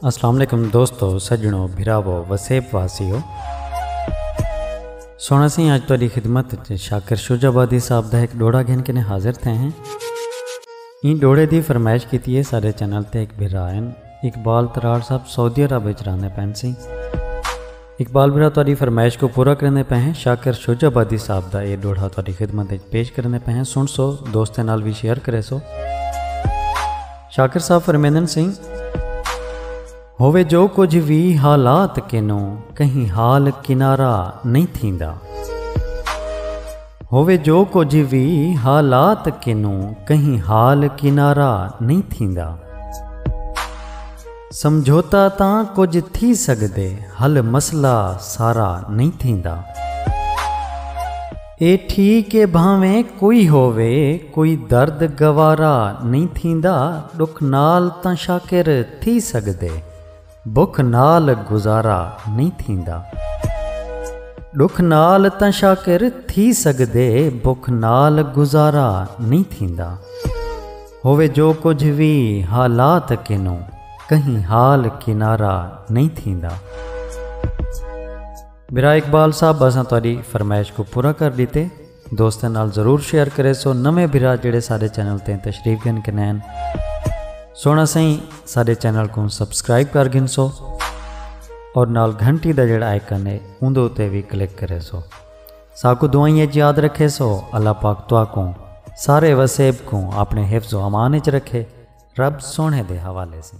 السلام علیکم دوستو سجنو بھراو وسیب واسیو سونا سی آج تاری خدمت شاکر شوج آبادی صاحب دا ایک ڈوڑا گھن کے حاضر تھے ہیں این ڈوڑے دی فرمائش کیتی ہے سارے چینل تے ایک بھرائن اقبال تراڑ صاحب سعودی عرب وچ راندے پین سی اقبال برا تہاڈی فرمائش کو پورا کریندے پئے ہیں شاکر شجہ آبادی صاحب دا اے ڈوہڑا تہاڈی خدمت وچ پیش کریندے پئے ہیں سن سو دوستاں نال وی شیئر کرے سو شاکر صاحب فرمیندن سیں ہووے جو کچھ وی حالات کینو کہیں حال کنارا نہیں تھیندا ہووے جو کچھ وی حالات کینو کہیں حال کنارا نہیں تھیندا سمجھوتہ تاں کجھ تھی سگدے حل مسئلہ سارا نئیں تھیندا۔ اے ٹھیک اے بھانویں کوئی ہووے کوئی درد گوارا نئیں تھیندا ݙکھ نال تاں شاکر تھی سگدے بکھ نال گزارا نئیں تھیندا۔ ݙکھ نال تاں شاکر تھی سگدے بکھ نال گزارا نئیں تھیندا۔ ہووے جو کجھ وی حالات اکنوں کہیں حال کنارہ نئیں تھیندا۔ برائے اقبال صاحب اساں تہاڈی فرمائش کوں پورا کر ڈتے۔ دوستاں نال ضرور شیئر کریسو۔ نویں بھرا جیڑھے ساڈے چینل تے تشریف گھن کنین سوہنا سئیں ساڈے چینل کوں سبسکرائب کر گھنسو اور نال گھنٹی دا جیڑھا آئیکن ہے اوندے اتے وی کلک کریسو۔ ساکوں دعائیں اچ یاد رکھے سو اللہ پاک تہاکوں سارے وسیب کوں اپنے حفظ و امان اچ رکھے رب سوہنے دے حوالے سیں۔